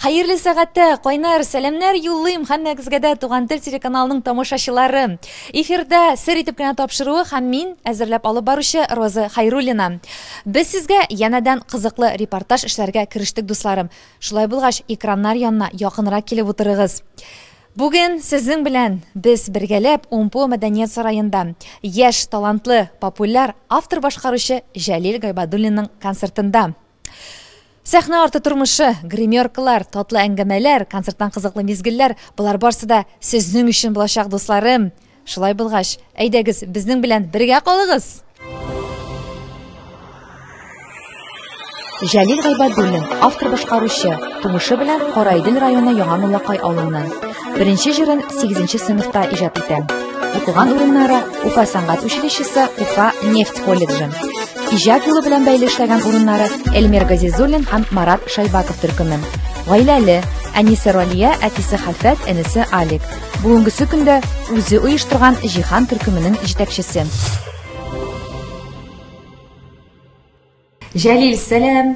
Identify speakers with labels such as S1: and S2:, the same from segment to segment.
S1: Хәерле сәгатьтә кайнар сәламнәр юллыйм һәммәгезгә дә Туган тел телеканалының тамашачылары. Эфирда сер итеп кенә тапшыруы һәм мин әзерләп алып баручы Роза Хайруллина. Без сезгә янәдән кызыклы репортаж эшләргә керештек, дусларым. Шулай булгач, экраннар янына якынрак килеп утырыгыз. Бүген сезнең белән без бергәләп УМПО мәдәният сараенда яшь, талантлы, популяр автор-башкаручы Җәлил Гайбадуллинның концертында. Сәхнә арты тормышы, гримеркалар, татлы әңгәмәләр, концерттан кызыклы мизгелләр, болар барсы да сезнең өчен булачак, дусларым. Шулай булгач, әйдәгез, безнең белән бергә калыгыз. Җәлил Гайбадуллин, автор башкаручы, тумышы белән Караидел районы Яңа Муллакай авылыннан. Беренче җырын 8 сыйныфта иҗат итә. Укыган урыннары Уфа сәнгать училищесы, Уфа нефть колледжы. Иҗат юлы белән бәйле эшләгән урыннары Эльмир Газизуллин һәм Марат Шайбаков төркеме. Гаиләле, әнисе Ралия, әтисе Хәлфәт, энесе Алик. Бүгенгесе көндә үзе оештырган Җиһан төркеменең җитәкчесе. Җәлил, сәлам!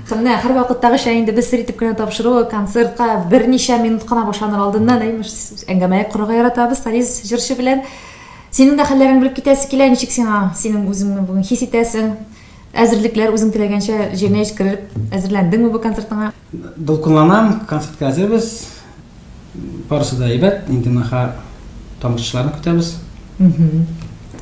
S1: Менә һәр вакыттагыча инде без сер итеп кенә тапшыру концертка берничә минут кына башланыр алдыннан имеш әңгәмә корырга яратабыз Салис җырчы белән. Синең дә хәлләреңне белеп китәсе килә, ничек сиңа, синең үзеңне бүген хис итәсең? Әзерлекләр үзең теләгәнчә җиренә җиткерелеп әзерләндеңме бу концертыңа? Дулкынланам,
S2: концертка әзербез. Барысы да әйбәт, инде наха тамашачыларны көтәбез.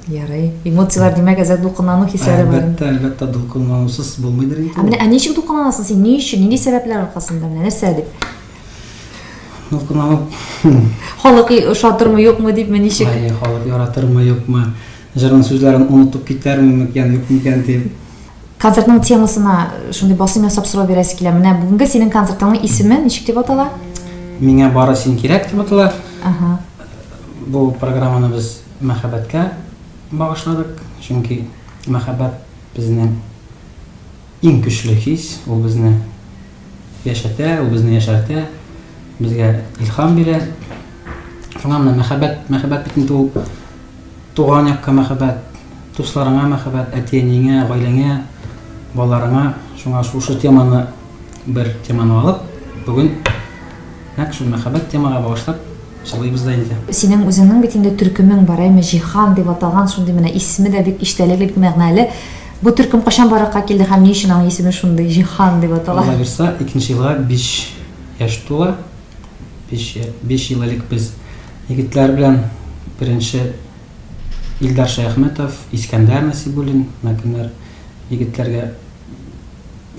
S1: Ярый. Эмоцияләр димәк, әзер дулкынлану хисләре бар. Әлбәттә, әлбәттә дулкынланусыз
S2: булмыйдыр инде. Ә менә ә ничек дулкынланасың
S1: син? Ни өчен? Нинди сәбәпләр аркасында? Менә нәрсә дип? Дулкынланып.
S2: Халык
S1: ошатырмы, юкмы дипме, ничек? Ай, халык яратырмы,
S2: юкмы? Җырның сүзләрен онытып китәрме микән, юк микән дип. Концертның
S1: темасына шундый басым ясап сорау бирәсе килә. Менә бүгенге синең концертыңның исеме ничек дип атала? Миңа бары
S2: син кирәк дип атала. Ага. Бу программаны без мәхәббәткә багышладык, чөнки мәхәббәт безнең иң көчле хис, ул безне яшәтә, ул безне яшәртә, безгә илһам бирә. Шуңа менә мәхәббәт, мәхәббәт бит инде ул Туган якка мәхәббәт, дусларыңа мәхәббәт, әти-әниеңә, гаиләңә, балаларыңа. Шуңа шушы теманы, бер теманы алып, бүген нәкъ шул мәхәббәт темага багышлап җырлыйбыз да инде. Синең үзеңнең бит инде төркемең
S1: бар, әйме, Җиһан дип аталган, шундый менә исеме дә бик иштәлекле, бик мәгънәле. Бу төркем кайчан барлыкка килде һәм ни өчен аның исеме шундый, Җиһан дип атала? Алла бирса, икенче елга
S2: биш яшь тула. Биш, биш ел элек без егетләр белән беренче Илдар Шәяхметов, Искәндәр Насибуллин, мәкеннәр егетләргә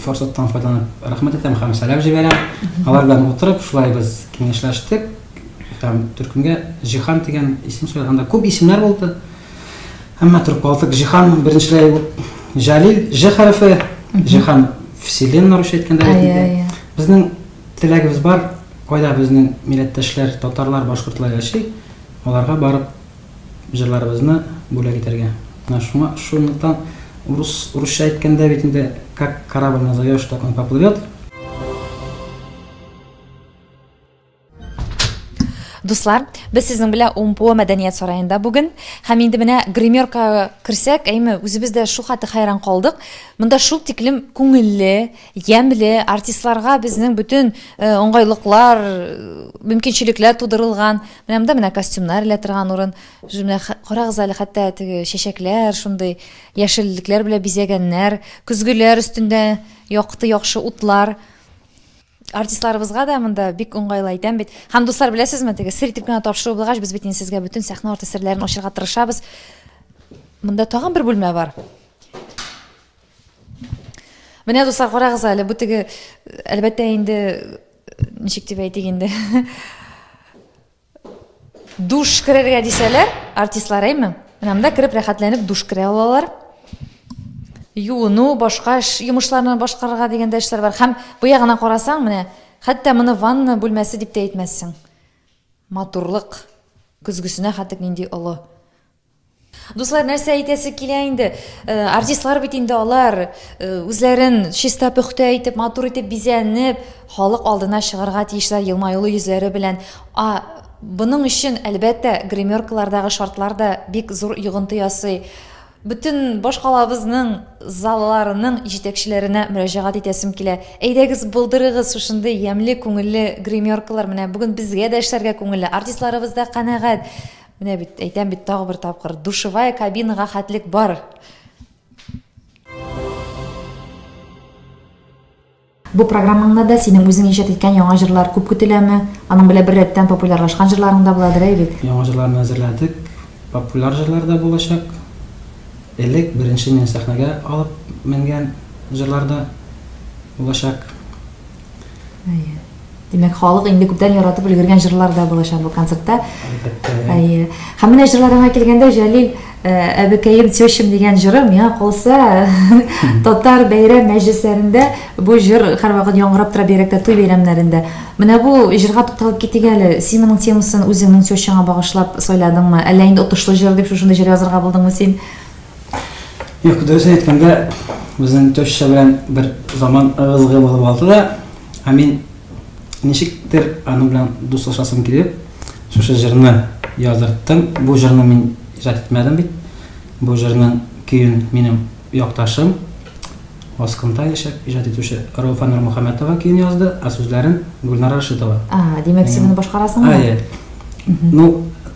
S2: форсаттан файдаланып рәхмәт әйтәм һәм сәлам җибәрәм. Алар белән утырып, шулай без киңәшләштек һәм төркемгә Җиһан дигән исем сөйләгән. Анда күп исемнәр булды. Әмма торып калдык. Җиһан беренчеләй Җәлил Ж хәрефе, Җиһан Вселенная русча әйткәндә әйтелде. Безнең Теләгебез бар, кайда безнең милләттәшләр, татарлар, башкортлар яши, аларга барып җырларыбызны бүләк итәргә. Менә шуңа, шунлыктан урыс, урысча әйткәндә бит инде как корабль назовешь, так он поплывет.
S1: Дуслар, без сезнең белән УМПО мәдәният сараенда бүген. Һәм инде менә гримерка керсәк, әйме, үзебез дә шул хәтле хәйран калдык. Монда шул тиклем күңелле, Ямьле, артистларга безнең бөтен уңгайлыклар, мөмкинчелекләр тудырылган. Менә монда менә костюмнар элә торган урын. Менә карагыз әле, хәтта теге чәчәкләр, шундый яшеллекләр белән бизәгәннәр. Көзгеләр өстендә якты, яхшы утлар. Артистларыбызга да монда бик уңгайлы әйтәм бит. Һәм дуслар, беләсезме, теге сер итеп кенә тапшыру булгач, без бит инде сезгә бөтен сәхнә арты серләрен ачырга тырышабыз. Монда тагын бер бүлмә бар. Менә дуслар карагыз әле, бу теге әлбәттә инде ничек дип әйтик инде. Душ керергә дисәләр, артистлар әйме? Менә монда кереп рәхәтләнеп душ керә алалар. Юыну, башка эш йомышларны башкарырга дигәндә эшләр бар. Хәм бу ягына карасаң, менә хәтта моны ванна бүлмәсе дип тә әйтмәссең. Матурлык көзгесенә хәтта нинди олы. Дуслар, нәрсә әйтәсе килә инде? Э, артистлар бит инде алар э, үзләрен чиста пөхтә итеп, матур итеп бизәнеп, халык алдына чыгарга тиешләр елмаюлы йөзләре белән. А Буның өчен, әлбәттә, гримеркалардагы шартлар да бик зур йогынты ясый. Бөтен башкалабызның залларының җитәкчеләренә мөрәҗәгать итәсем килә. Әйдәгез, булдырыгыз шушындый ямьле күңелле гримеркалар. Менә бүген безгә дә эшләргә күңелле, артистларыбыз да канәгать. Менә бит, әйтәм бит тагы бер тапкыр, душевая кабинага хәтлек бар. Бу программаңда да синең үзең иҗат иткән яңа җырлар күп көтеләме? Аның белән бер рәттән популярлашкан җырларың да буладыр әле бит. Яңа җырларны әзерләдек.
S2: Популяр җырлар да булачак. Элек беренче мин сәхнәгә алып менгән җырлар да булачак. Әйе.
S1: Димәк, халык инде күптән яратып өлгергән җырлар да булачак бу концертта. Әйе.
S2: Һәм менә җырларыңа
S1: килгәндә, Җәлил, әбекәем тещам дигән җырым миңа калса, татар бәйрәм мәҗлесләрендә бу җыр һәрвакыт яңгырап тора, бигрәк тә туй бәйрәмнәрендә. Менә бу җырга тукталып китик әле. Син моның темасын үзеңнең тещаңа багышлап сайладыңмы? Әллә инде отышлы җыр дип шушындый җыр язырга булдыңмы син?
S2: Юк, дөресен әйткәндә, безнең теща белән бер заман ыгы-зыгы булып алды да, ә мин ничектер аның белән дуслашасым килеп, шушы җырны яздырттым. Бу җырны мин иҗат итмәдем бит. Бу җырның көен минем якташым Аскында яшәп иҗат итүче Рауфа Нурмөхәммәтова көен язды, ә сүзләрен Гүлнара Рашитова. А, димәк, син моны
S1: башкарасыңмы? Әйе. Ну,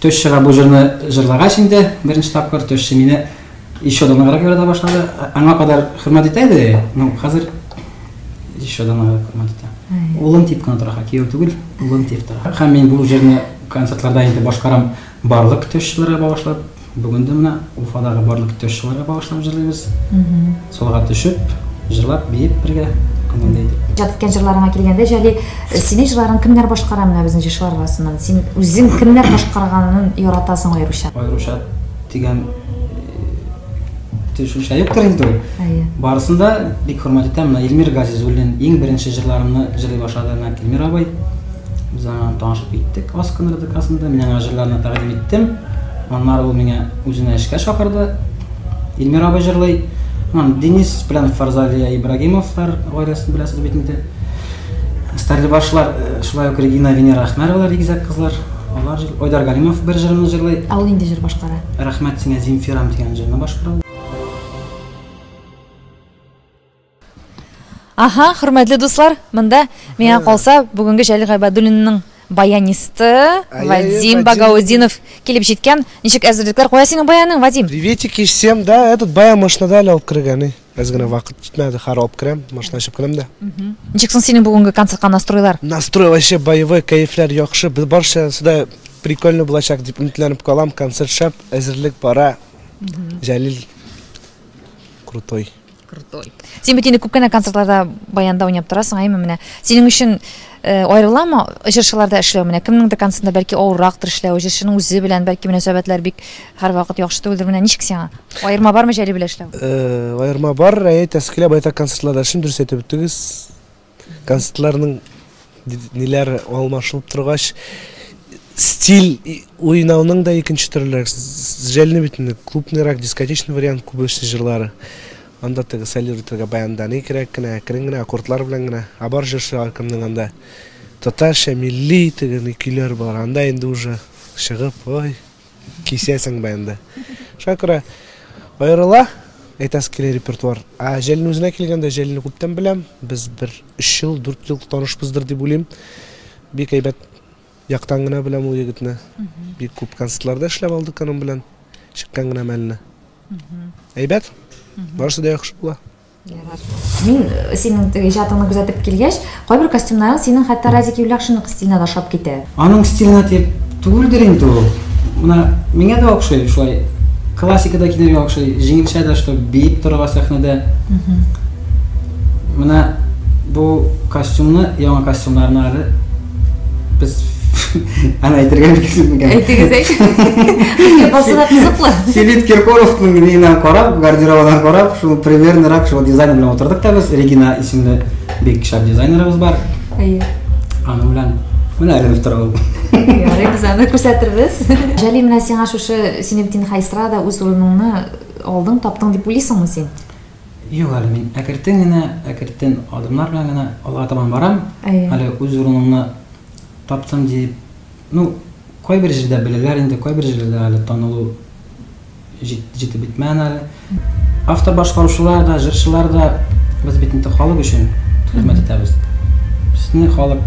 S3: Төш чыга бу
S2: җырны җырлагач инде беренче тапкыр төшче мине еще да ныграк ярата башлады. Аңа кадәр хөрмәт итә иде, ну хәзер еще да ныграк хөрмәт итә. Улым дип кенә тора, кияү түгел, улым дип тора. Һәм мин бу җырны концертларда инде башкарам барлык төшчеләргә багышлап. Бүген дә менә Уфадагы барлык тещаларга багышлап җырлыйбыз. Салга төшеп, җырлап, биеп бергә, күңелле итеп. Иҗат иткән җырларыңа килгәндә,
S1: Җәлил, синең җырларың кемнәр башкара менә безнең җырчылар арасыннан? Син үзең кемнәр башкарганын яратасың аеруча? Аеруча
S2: дигән төшенчә юктыр инде ул. Әйе. Барысын да бик хөрмәт итәм. Менә Илмир Газизуллин иң беренче җырларымны җырлый башлады, менә Илмир абый. Без аңа танышып киттек Аскын РДКсында. Мин аңа җырларны тәкъдим иттем. Аннары ул миңа үзенә эшкә чакырды. Илмир абый җырлый. Аннан Денис белән Фарзалия Ибрагимовлар гаиләсен беләсез бит инде. Стәрлебашлар, э, шулай ук Регина Венера Ахмәровалар игезәк кызлар. Алар җыр... Айдар Галимов бер җырны җырлый. Ә ул инде җыр башкара.
S1: Рәхмәт сиңа Земфирам
S2: дигән җырны башкара.
S1: Аха, хөрмәтле дуслар, монда миңа калса бүгенге Җәлил Гайбадуллинның баянисты Вадим Багаудинов килеп җиткән. Ничек әзерлекләр? Кая синең баяның, Вадим? Приветик и всем, да,
S4: этот баян машинада әле алып кергән. Без генә вакыт җитмәде, хәр алып керәм, машина чыгып керәм дә. Ничек соң синең
S1: бүгенге концертка настройлар? Настрой вообще
S4: боевой, кәефләр яхшы. Без барча сюда прикольно булачак дип өметләнеп калам. Концерт шәп, әзерлек бара. Җәлил крутой. крутой.
S1: Син бит инде күп кенә концертларда баянда уйнап торасың, әйме менә. Синең өчен э, аерыламы җырчыларда эшләү менә? Кемнеңдер концертында бәлки авыррактыр эшләү, җырчының үзе белән бәлки мөнәсәбәтләр бик һәрвакыт яхшы түгелдер. Менә ничек сиңа? Аерма бармы Җәли белән эшләү? Э, аерма бар, әйе,
S4: тәскилә байтак концертларда эшлим, дөрес әйтеп үттегез. Концертларның ниләр алмашылып торгач, стиль уйнауның да икенче төрләре. Җәлне битенде, клубныйрак, дискотечный вариант күбесе җырлары. Анда теге солируйтырга баянда ни кирәк кенә, әкрен генә, аккордлар белән генә. А бар җырчы кемнең анда татарча, милли теге ни көйләр бар. Анда инде уже чыгып, ой, Кисәсең бе инде. Шуңа күрә аерыла, әйтәсе килә репертуар. Ә Җәлилнең үзенә килгәндә, Җәлилне күптән беләм. Без бер 3 ел, 4 ел танышбыздыр дип уйлыйм. Бик әйбәт яктан гына беләм ул егетне. Бик күп концертларда эшләп алдык аның белән. Чыккан гына мәлне. Әйбәт. Барысы да яхшы була. Мин
S1: э, синең теге иҗатыңны күзәтеп килгәч, кайбер костюмнарың синең хәтта Разик Юлякшинның стиленә дә ошап китә. Аның стиленә дип
S2: түгелдер инде ул. Менә миңа да охшый шулай классикада килергә охшый, җиңелчә дә что биеп торырга сәхнәдә. Менә бу костюмны, яңа костюмнарны әле Без Аны әйтергә мөмкин микән? Әйтегез,
S1: әйтегез. Басы да кызыклы. Филипп Киркоровның
S2: миенә карап, гардеробына карап, шул примерно рак шул дизайнер белән утырдык та без. Регина исемле бик шәп дизайнерыбыз бар. Әйе.
S1: Аның белән
S2: менә әйләнеп тора ул. Ярый, без аны
S1: күрсәтербез. Җәли менә сиңа шушы Синептин Хайсра да үз урыныңны алдың, таптың дип уйлыйсыңмы син? Юк әле,
S2: мин әкертен генә, әкертен адымнар белән генә алга табан барам. Әле үз урынымны таптым дип, ну, кайбер җирдә беләләр инде, кайбер җирдә әле танылу җитеп бетмәгән әле. Автор башкаручылар да, җырчылар да без бит инде халык өчен хезмәт итәбез. Безне халык,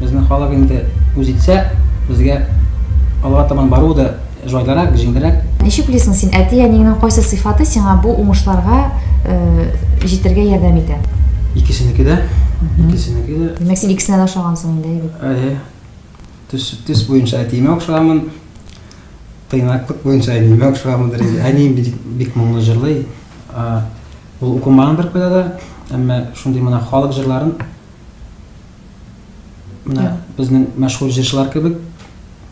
S2: безне халык инде үз итсә, безгә алга табан бару да, Җайлырак, җиңелрәк. Ничек уйлыйсың син,
S1: әти-әниеңнең кайсы сыйфаты сиңа бу уңышларга җитәргә ярдәм итә? Икесенеке дә.
S2: Икесенеке дә.
S1: Димәк, син икесенә дә ошагансың инде, әйе бит? Әйе. Төс,
S2: төс буенча әтиемә охшаганмын. Тыйнаклык буенча әниемә охшаганмындыр инде. Әнием бик, бик моңлы җырлый. Ул укымаган беркайда да, әмма шундый менә халык җырларын, Менә безнең мәшһүр җырчылар кебек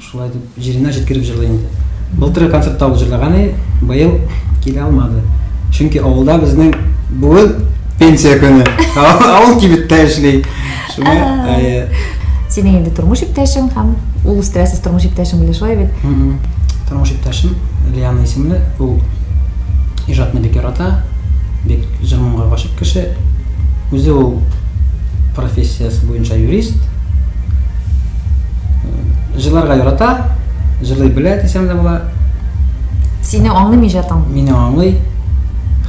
S2: шулай дип җиренә җиткереп җырлый инде. Былтыргы концертта ул җырлаган иде, быел килә алмады. Чөнки авылда безнең бүген пенсия көне. Авыл кибеттә эшли. Шуңа әйе. Синең
S1: инде тормыш иптәшең һәм ул үстерәсез тормыш иптәшең белән шулай бит? Тормыш
S2: иптәшем Лиана исемле, ул иҗатны бик ярата, бик җыр-моңга гашыйк кеше. Үзе ул профессиясе буенча юрист. Җырларга ярата, җырлый белә дисәм дә була.
S1: Сине аңлыймы иҗатың? Мине
S2: аңлый.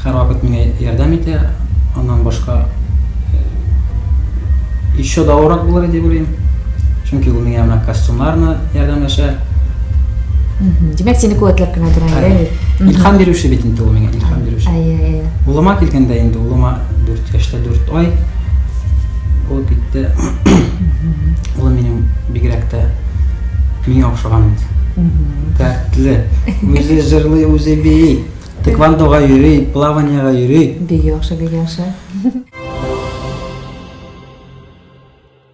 S2: Һәрвакыт миңа ярдәм итә. Аннан башка еще да урак булыр дип уйлыйм. Чөнки ул миңа менә костюмнарны ярдәмләшә.
S1: Димәк, сине куәтләп кенә тора инде. Илһам бирүче бит
S2: инде ул миңа, илһам бирүче. Әйе, әйе. Улыма килгәндә инде улыма 4 яшьтә 4 ай ул китте. Улым минем бигрәк тә миңа охшаган инде. Тәртле. Үзе җырлый, үзе бии. Тиквандога йөри, плаваниега йөри. Бик яхшы, бик яхшы.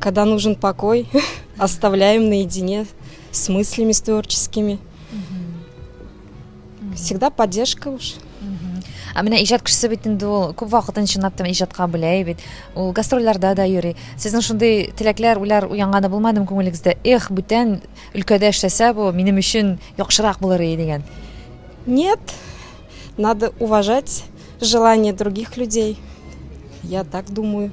S5: Когда нужен покой, оставляем наедине с мыслями, с творческими. Всегда поддержка уж. Ә менә
S1: иҗат кешесе бит инде ул күп вакытын чынлап та иҗатка бүләй бит. Ул гастрольләрдә дә йөри. Сезнең шундый теләкләр, уйлар уянганы булмадымы күңелегездә? Эх, бүтән өлкәдә эшләсә бу минем өчен яхшырак булыр иде дигән. Нет.
S5: Надо уважать желание других людей. Я так думаю.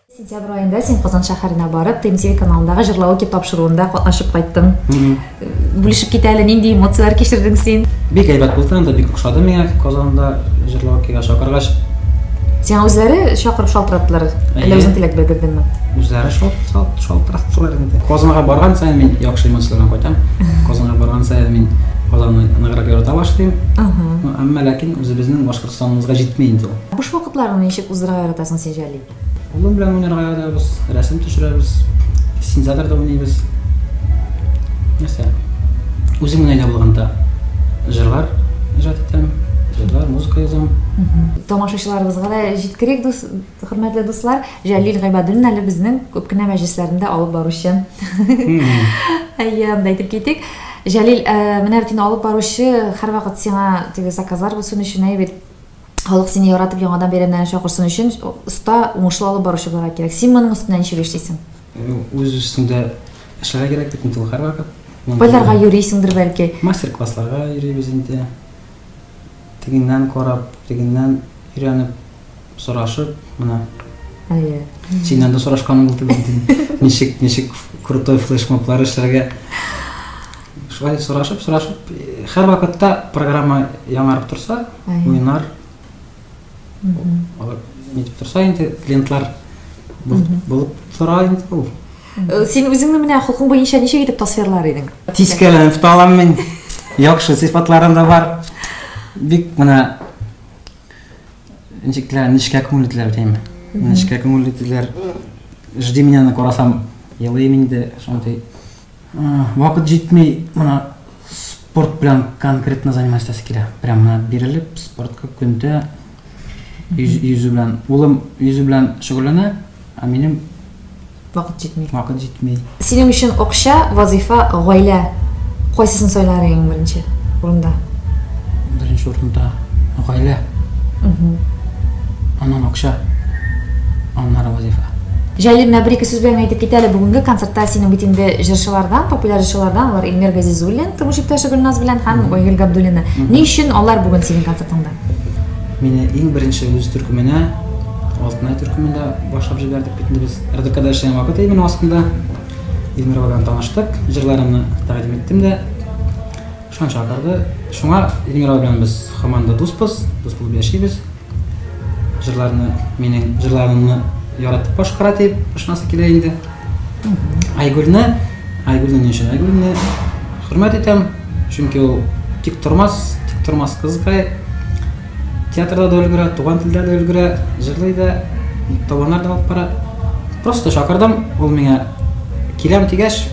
S1: Сентябрь аенда син Казан шәһәренә барып, ТМТВ каналындагы җырлауки тапшыруында катнашып кайттың. Бүлешеп кит әле, нинди эмоцияләр кичердең син? Бик әйбәт булды, анда
S2: бик ошады миңа Казанда җырлаукига чакыргач. Сиңа
S1: үзләре чакырып шалтыраттылар, әллә үзең теләк белдердеңме? Үзләре
S2: шалтыраттылар инде. Казанга барган саен мин яхшы эмоцияләрдән кайтам. Казанга барган саен мин Казанны ныграк ярата башлыйм. Әмма ләкин үзебезнең Башкортстаныбызга җитми инде ул. Буш вакытларны ничек
S1: уздыра яратасың син, Җәлил? Улым белән уйнарга
S2: язабыз, рәсем төшерәбез, синтезаторда уйныйбыз. Нәрсә? Үзем генә дә булганда җырлар иҗат итәм, җырлар, музыка язам. Тамашачыларыбызга
S1: да җиткерик, дус, хөрмәтле дуслар. Җәлил Гыйбадуллин әле безнең күп кенә мәҗлесләрендә алып баручы. Әйе, анда әйтеп китик. Җәлил, э, менә бит инде алып баручы һәрвакыт сиңа теге заказлар булсын өчен әйбит Халык сине яратып яңадан бәйрәмнәрне чакырсын өчен оста, уңышлы алып баручы булырга кирәк. Син моның өстенә ничек эшлисең? Ну, үз
S2: өстендә эшләргә кирәк бит инде ул һәрвакыт. Кайларга йөрисеңдер
S1: бәлки? Мастер-классларга йөрибез
S2: инде. Тегеннән карап, тегеннән өйрәнеп, сорашып, менә. Әйе. Синнән дә сорашканым булды бит. Ничек, ничек крутой флешмоблар эшләргә? Шулай сорашып, сорашып, хәр вакытта программа яңарып торса, уйнар. Алар нитеп торса инде клиентлар булып тора инде ул. Э, син үзеңне
S1: менә хокук буенча ничек итеп тасвирлар идең? Тискәләнеп та алам
S2: мин. Яхшы сыйфатларым да бар. Бик менә ничек тә нечкә күңелле диләр димме? Нечкә күңелле диләр. Жди меня на карасам, елыйм инде шундый Вакыт җитми, менә спорт белән конкретно заниматься килә. Прям менә бирелеп, спортка көндә йөзү белән. Улым йөзү белән шөгыльләнә, ә минем вакыт
S1: җитми. Вакыт җитми. Синең өчен
S2: акча,
S1: вазифа, гаилә кайсысын сайлар идең беренче урында? Беренче
S2: урында гаилә. аннан акча, аннары вазифа. Җәлил, менә бер-ике
S1: сүз белән генә әйтеп кит әле, бүгенге концертта синең бит инде җырчылардан, популяр җырчылардан, алар Илмир Газизуллин, тормыш иптәше Гөлназ белән һәм Айгөл Габдуллина. Ни өчен алар бүген синең концертыңда? Мине
S2: иң беренче үз төркеменә, Алтынай төркеменә башлап җибәрдек бит инде без. РДКда эшләгән вакыт иде минем астында. Илмир белән таныштык, җырларымны тәкъдим иттем дә. Шуннан чакырды. Шуңа Эльмира белән без һаман да дуспыз, дус булып яшибез. Җырларны, минем җырларымны яратып башкара дип ышанасы килә инде. Айгөлне, Айгөлне ни өчен? Айгөлне хөрмәт итәм, чөнки ул тик тормас, тик тормас кызыкай. Театрда да өлгерә, туган телдә дә өлгерә, җырлый да, табыннар да алып бара. Просто чакырдым, ул миңа киләм дигәч,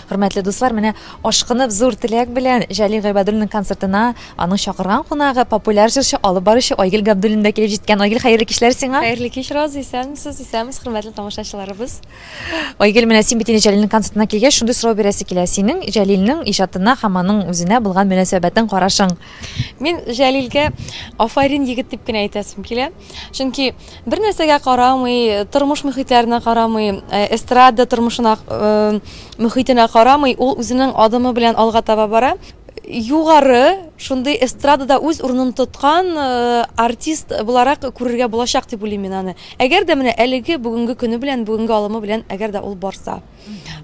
S1: Хөрмәтле дуслар, менә ашкынып зур теләк белән Җәлил Гыйбадуллинның концертына аның чакырган кунагы, популяр җырчы, алып баручы Айгел Габдуллин да килеп җиткән. Айгел, хәерле кичләр сиңа. Хәерле кич, Роза,
S6: исәнмесез, исәнмесез, хөрмәтле тамашачыларыбыз. Айгел,
S1: менә син бит инде Җәлилнең концертына килгәч, шундый сорау бирәсе килә. Синең Җәлилнең иҗатына һәм аның үзенә булган мөнәсәбәтең, карашың? Мин
S6: Җәлилгә афарин егет дип кенә әйтәсем килә. Чөнки бер нәрсәгә карамый, тормыш мөхитләренә карамый, э, эстрада тормышына э, мөхитенә карамый, ул үзенең адымы белән алга таба бара. Югары шундый эстрадада үз урынын тоткан э, артист буларак күрергә булачак дип уйлыйм мин аны. Әгәр дә менә әлеге бүгенге көне белән, бүгенге алымы белән әгәр дә ул барса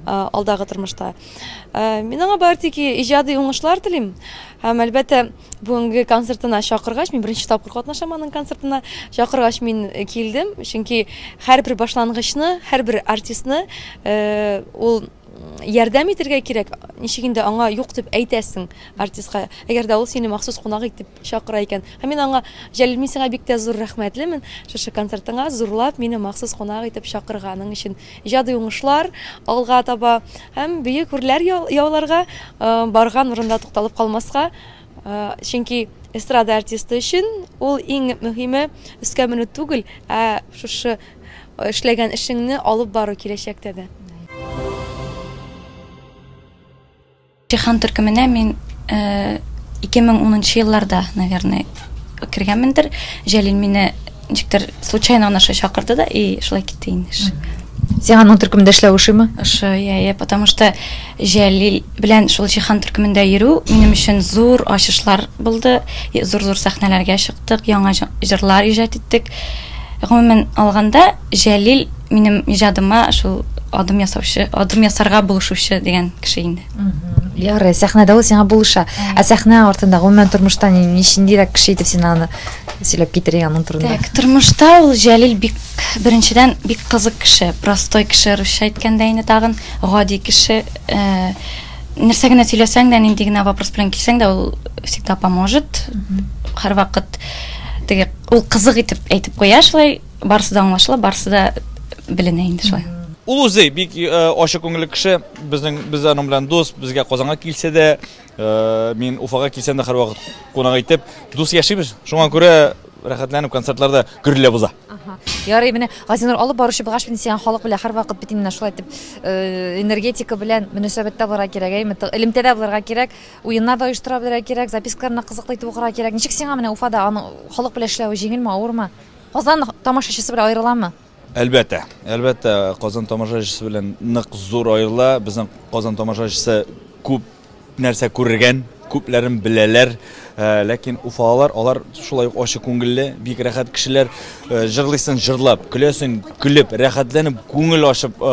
S6: алдагы тормышта. Мин аңа бары тик иҗади уңышлар телим. Һәм әлбәттә Бүгенге концертына чакыргач, мин беренче тапкыр катнашам аның концертына. Чакыргач мин э, килдем, чөнки һәрбер башлангычны, һәрбер артистны э, ул ярдәм итергә кирәк. Ничек инде аңа юк дип әйтәсең артистка. Әгәр дә ул сине махсус кунак итеп чакыра икән. Һәм мин аңа Җәлил мин сиңа бик тә зур рәхмәтлемен. Шушы концертыңа зурлап мине махсус кунак итеп чакырганың өчен. Иҗади уңышлар, алга таба һәм бөек гүрләр яуларга, барган урында тукталып калмаска, чөнки эстрада артисты өчен ул иң мөһиме өскә менү түгел, ә шушы эшләгән эшеңне алып бару киләчәктә дә.
S7: Җиһан төркеменә мин 2010 нчы елларда, наверное, кергәнмендер. Җәлил мине ничектер случайно гына шулай чакырды да, и шулай китте инде эш. Сиңа аның
S1: төркемендә эшләү ошыймы? Ошый, я, я, потому
S7: что Җәлил белән шул Җиһан төркемендә йөрү минем өчен зур ачышлар булды. Зур-зур сәхнәләргә чыктык, яңа җырлар иҗат иттек. Гомумән алганда, Җәлил минем иҗадыма шул адым ясаучы, адым ясарга булышучы дигән кеше инде. Ярый,
S1: сәхнәдә ул сиңа булыша. Ә сәхнә артында гомумән тормышта ничендирәк кеше итеп син аны сөйләп китерә аның турында? Так, тормышта ул
S7: Җәлил бик беренчедән бик кызык кеше, простой кеше, русча әйткәндә инде тагын гади кеше. Э, нәрсә генә сөйләсәң дә, нинди генә вопрос белән килсәң дә, ул всегда поможет. Һәрвакыт теге ул кызык итеп әйтеп куя шулай Барысы да аңлашыла, барысы да беленә инде шулай. Ул
S8: үзе бик э, ачы күңелле кеше. Безнең без аның белән дус. Безгә Казанга килсә дә, э, мин Уфага килсәм дә һәрвакыт кунак итеп, дус яшибез. Шуңа күрә рәхәтләнеп концертларда гөрләп уза. Ярый, менә
S1: Газинур алып баручы булгач, мин сиңа халык белән һәрвакыт бит инде шулай итеп э, энергетика белән мөнәсәбәттә булырга кирәк, әйме, элемтәдә булырга кирәк, уеннар да оештыра белергә кирәк, запискаларны кызыклы итеп укырга кирәк. Ничек сиңа менә Уфада аның халык белән эшләве җиңелме, авырмы? Казан тамашачысы белән аерыламы? Әлбәттә,
S8: әлбәттә, Казан тамашачысы белән нык зур аерыла. Безнең Казан тамашачысы күп нәрсә күргән, күпләрен беләләр. Э, ләкин уфалылар алар шулай ук ачы күңелле бик рәхәт кешеләр э, җырлыйсын җырлап көләсен көлеп рәхәтләнеп күңел ачып э,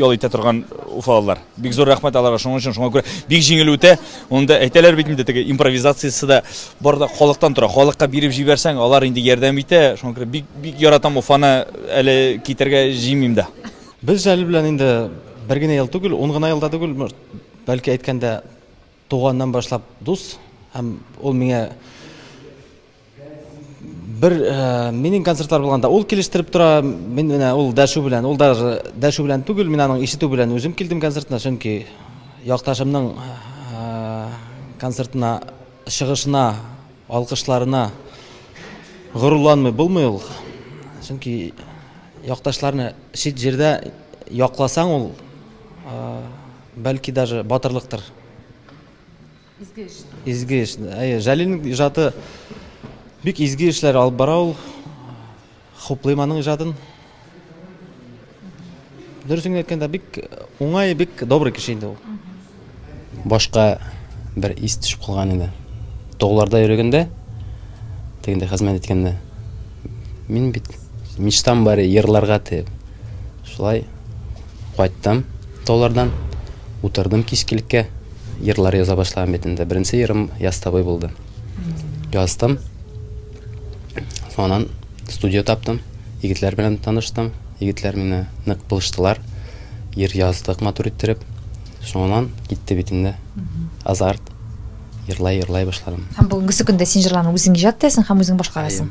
S8: ял итә торган уфалылар бик зур рәхмәт аларга шуның өчен шуңа күрә бик җиңел үтә Онда әйтәләр бит инде теге импровизациясе дә бар да халыктан тора. Халыкка биреп җибәрсәң, алар инде ярдәм итә. Шуңа күрә бик бик яратам Уфаны әле китәргә җыймыйм да. Без әле белән
S9: инде бер генә ел түгел, ун гына елда түгел, бәлки әйткәндә туганнан башлап дус һәм ул миңа Бер э, минем концертлар булганда ул килештереп тора, мин менә ул дәшү белән, ул даже дәшү белән түгел, мин аның ишетү белән үзем килдем концертына, чөнки якташымның э, концертына чыгышына, алкышларына горурланмый булмый ул. Чөнки якташларны чит җирдә якласаң ул э, бәлки даже батырлыктыр. Изге эш. Изге эш. Әйе, Җәлилнең иҗаты бик изге эшләр алып бара ул. Хуплыйм аның иҗатын. Дөресен әйткәндә, бик уңай, бик добрый кеше инде ул. Башка
S10: бер ис төшеп калган иде. Тогларда йөргәндә, тегендә хезмәт иткәндә, мин бит мечтам бар, ерларга дип. Шулай Кайттым таулардан, утырдым кичкелеккә, Ерлар яза башлаган бит инде. Беренче ерым Ястабый булды. Яздым. Соңыннан студия таптым, егетләр белән таныштым. Егетләр мине нык булыштылар. Ер яздык матур иттереп. Соңыннан китте бит инде. Азарт. Ерлай, ерлай башладым. Һәм бүгенгесе көндә син
S1: җырларны үзең иҗат итәсең һәм үзең башкарасың.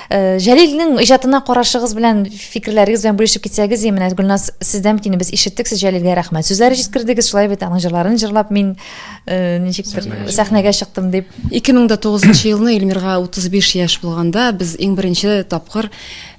S1: Э, Җәлилнең иҗатына карашыгыз белән, фикерләрегез белән бүлешеп китсәгез, менә Гөлназ, сездән бит без ишеттек, сез Җәлилгә рәхмәт. Сүзләре җиткердегез, шулай бит аның җырларын җырлап мин э, ничектер сәхнәгә чыктым дип. 2009
S11: елны Эльмирга 35 яшь булганда без иң беренче тапкыр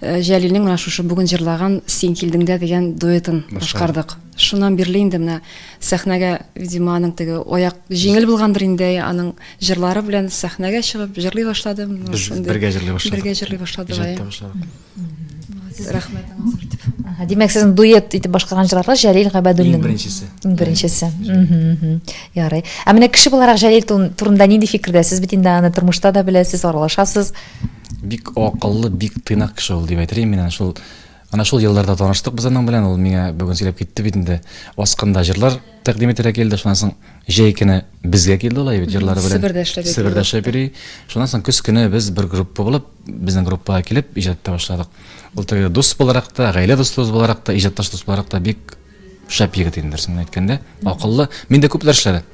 S11: э, Җәлилнең менә шушы бүген җырлаган Син килдеңдә дигән дуэтын башкардык. Шуннан бирле инде менә сәхнәгә, видимо, аның теге аяк җиңел булгандыр инде аның җырлары белән сәхнәгә чыгып җырлый башлады. Без бергә җырлый башладык. Бергә җырлый башлады. Иҗатта башладык. Рәхмәтегез артып. Димәк, сезнең дуэт
S1: итеп башкарган җырларга Җәлил Габәдуллин. Иң беренчесе. Иң беренчесе. Ярый. Ә менә кеше буларак Җәлил турында нинди фикердә? Сез бит инде аны тормышта да беләсез, аралашасыз. Бик
S12: акыллы, бик тыйнак кеше ул дип әйтер мин. Шул Ана шул елларда таныштык без аның белән, ул миңа бүген сөйләп китте бит инде. Аскында җырлар тәкъдим ителә килде шуннан соң җәй көне безгә килде ул әйбит җырлары белән себердә эшләп себердә эшләп йөри шуннан соң көз көне без бер группа булып безнең группага килеп иҗат итә башладык ул теге дус буларак та гаилә дустыбыз буларак та иҗатташ дус буларак та бик шәп егет инде дөресен әйткәндә акыллы мин дә күпләр эшләде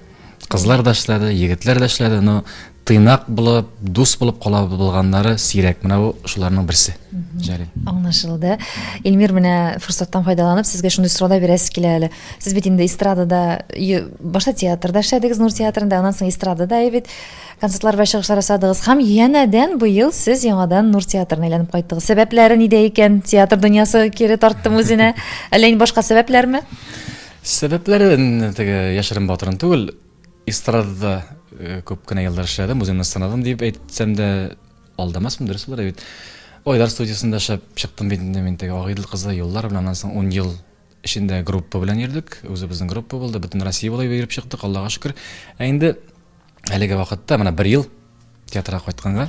S12: кызлар да эшләде егетләр дә эшләде но Тыйнак булып, дус булып кала булганнары сирәк. Менә бу шуларның берсе. Җәлил. Аңлашылды.
S1: Эльмир менә форсаттан файдаланып сезгә шундый сорау да бирәсе килә әле. Сез бит инде эстрадада башта театрда эшләдегез, Нур театрында, аннан соң эстрадада бит концертлар белән чыгышлар ясадыгыз һәм янәдән быел сез яңадан Нур театрына әйләнеп кайттыгыз. Сәбәпләре нидә икән? Театр дөньясы кире тарттымы үзенә? Әллә инде башка сәбәпләрме? Сәбәпләре
S12: теге яшерен батырын түгел. Эстрадада күп кенә еллар эшләдем, үземне сынадым дип әйтсәм дә алдамасмын, дөрес булыр бит. Айдар студиясендә эшләп чыктым бит инде мин теге Агыйдел кызы еллар белән, аннан соң 10 ел эчендә группа белән йөрдек. Үзебезнең группа булды, бөтен Россия буйлап йөреп чыктык, Аллага шөкер. Ә инде әлеге вакытта менә бер ел театрга кайтканга,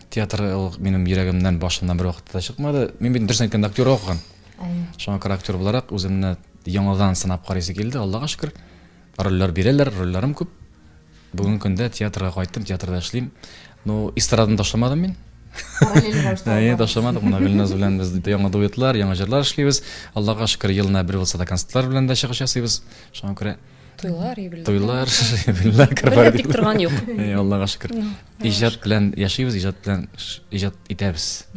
S12: театр ул минем йөрәгемнән, башымнан бер вакытта да чыкмады. Мин бит дөресен әйткәндә актер укыган. Шуңа күрә актер буларак үземне яңадан сынап карыйсы килде, Аллага шөкер. Рольләр бирәләр, рольләрем күп. Бүгенге көндә театрга кайттым, театрда эшлим. Ну, эстраданы ташламадым мин. Параллель рәвештә Әйе, алып ташламадык. Менә Гөлназ белән без яңа дуэтлар, яңа җырлар эшлибез. Аллага шөкер, елына бер булса да концертлар белән дә чыгыш ясыйбыз. Шуңа күрә Туйлар, юбилейлар.
S6: туйлар, юбилейлар,
S12: Бер дә тик корпоратив. торган
S6: юк. Әйе, Аллага шөкер.
S12: Иҗат белән яшибез, иҗат белән иҗат итәбез.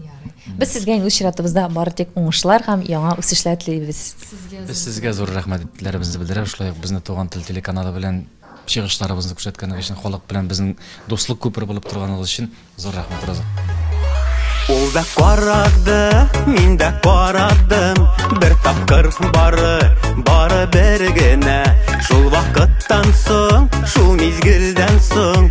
S12: Без сезгә
S1: инде үз чиратыбызда бары тик уңышлар һәм яңа үсешләр телибез. Без сезгә
S12: зур рәхмәтләребезне белдерәбез, шулай ук безне Туган тел телеканалы белән чыгышларыбызны күрсәткәнегез өчен, халык белән безнең дуслык күпере булып торганыгыз өчен зур рәхмәт, Роза.
S13: Ул да карады, мин дә карадым, бер тапкыр бары, бары бер генә. Шул вакыттан соң, шул мизгелдән соң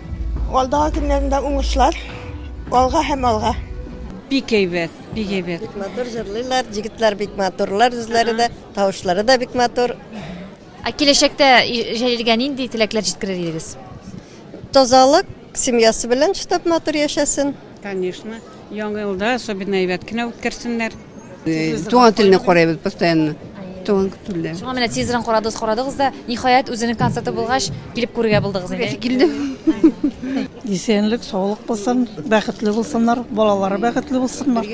S1: Алдагы
S14: көннәрендә уңышлар, алга һәм алга. Бик әйбәт,
S3: бик әйбәт. Бик матур җырлыйлар,
S15: җегетләр бик матурлар, үзләре дә, тавышлары да бик матур. Ә киләчәктә
S1: Җәлилгә нинди теләкләр җиткерер идегез? Тазалык,
S15: семьясы белән чыдап матур яшәсен. Конечно.
S3: Яңа елда особенно әйбәт кенә үткәрсеннәр. Туган
S16: телне карыйбыз постоянно. Туган телдә. Шуңа менә тизрен карадыгыз,
S1: карадыгыз да, ниһаять үзенең концерты булгач, килеп күрергә булдыгыз инде. Килдем.
S14: Исәнлек, саулык булсын, бәхетле булсыннар, балалары бәхетле булсыннар.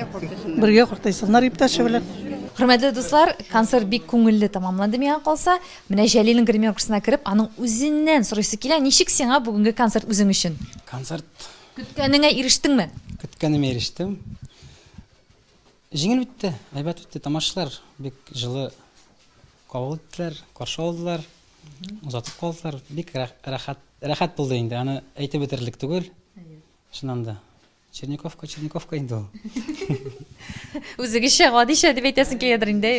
S14: Бергә картайсыннар иптәше белән. Хөрмәтле дуслар,
S1: концерт бик күңелле тәмамланды миңа калса. Менә Җәлилнең гримеркасына кереп, аның үзеннән сорыйсы килә, ничек сиңа бүгенге концерт үзең өчен? Концерт
S2: Көткәнеңә
S1: ирештеңме? Көткәнемә ирештем.
S2: Җиңел үтте, әйбәт үтте. Тамашачылар бик җылы кабул иттеләр, каршы алдылар, озатып калдылар. Бик рәхәт, рәхәт булды инде. Аны әйтеп бетерерлек түгел. Чыннан да. Черниковка, Черниковка инде ул. Үзегезчә
S1: гадишә дип әйтәсең киләдер инде.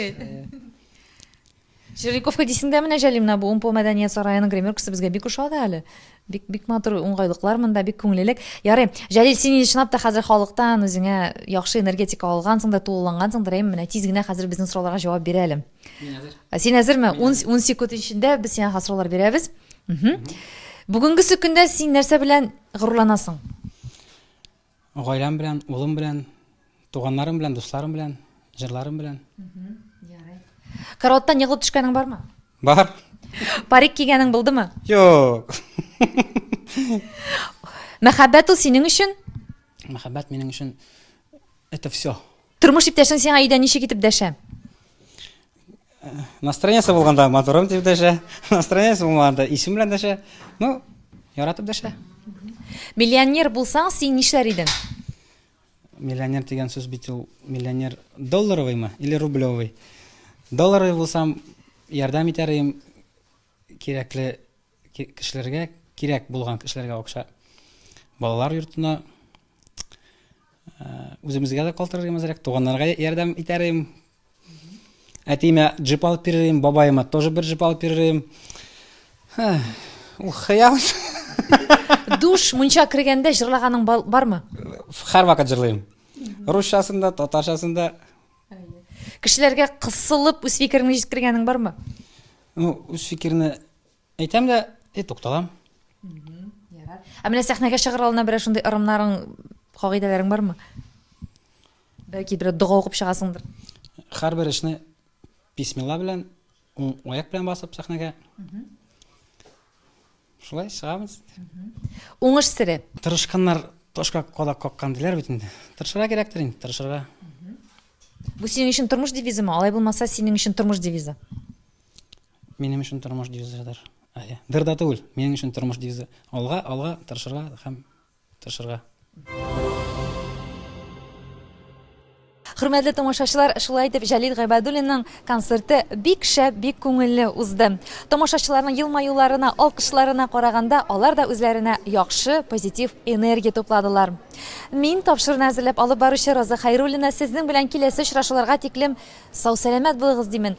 S1: Җирликовка дисең дә менә, Җәлил, менә бу Умпо мәдәният сараеның гримеркасы безгә бик оша да әле. Бик, бик матур уңгайлыклар монда, бик күңлелек. Ярый, Җәлил, син инде чынлап та хәзер халыктан үзеңә яхшы энергетика алгансың да, тулылангансыңдыр, әйеме? Менә тиз генә хәзер безнең сорауларга җавап бир әле. Мин әзер. Ә син әзерме? Ун, ун секунд эчендә без сиңа хәзер сораулар бирәбез. Мгм. Бүгенгесе көндә син нәрсә белән горурланасың?
S2: Гаиләм белән, улым белән, туганнарым белән, дусларым белән, җырларым белән. Ярый.
S1: Караваттан егылып төшкәнең бармы? Бар.
S2: Парик
S1: кигәнең булдымы? Юк. Мәхәббәт ул синең өчен? Мәхәббәт минем
S2: өчен это все. Тормыш иптәшең сиңа
S1: өйдә ничек итеп дәшә?
S2: Настроениесе булганда моторым дип дәшә, настроениесе булмаганда исем белән дәшә. Ну, яратып дәшә. Миллионер
S1: булсаң, син нишләр идең?
S2: Миллионер дигән сүз бит ул миллионер долларовыймы или рублевый? Долларовый булсам, ярдәм итәр идем, Кирәкле кешеләргә, кирәк булган кешеләргә акча. Балалар йортына үземезгә дә калтырыр имез рәк, туганнарга ярдәм итәр им. Әтиемә джип алып бирер им, бабаема тоже бер джип алып бирер им. Ул хыял.
S1: Душ мунча кергәндә җырлаганың бармы? Һәрвакыт
S2: җырлыйм. Русчасында, татарчасында
S1: Кешеләргә кысылып үз фикереңне җиткергәнең бармы? Ну, үз
S2: фикерне әйтәм дә, и тукталам. Ярар.
S1: Ә менә сәхнәгә чыгар алдына берәр шундый ырымнарың, кагыйдәләрең бармы? Бәлки бер дога укып чыгасыңдыр. Һәрбер
S2: эшне бисмилла белән Уң аяк белән басып сәхнәгә. Шулай чыгабыз. Уңыш
S1: сере. Тырышканнар
S2: ташка кадак каккан диләр бит инде. Тырышырга кирәктер инде, тырышырга.
S1: Бу синең өчен тормыш девизымы? Алай булмаса, синең өчен тормыш девизы.
S2: Минем өчен тормыш девизыдыр. Әйе. Дыр да түгел. Минем өчен тормыш девизы. Алга, алга, тырышырга һәм тырышырга.
S1: Хөрмәтле тамашачылар, шулай итеп Җәлил Гайбәдуллинның концерты бик шәп, бик күңелле узды. Тамашачыларның елмаюларына, алкышларына караганда, алар да үзләренә яхшы, позитив энергия тупладылар. Мин тапшыруны әзерләп алып баручы Роза Хайруллина сезнең белән киләсе очрашуларга тиклем сау-сәламәт булыгыз димен.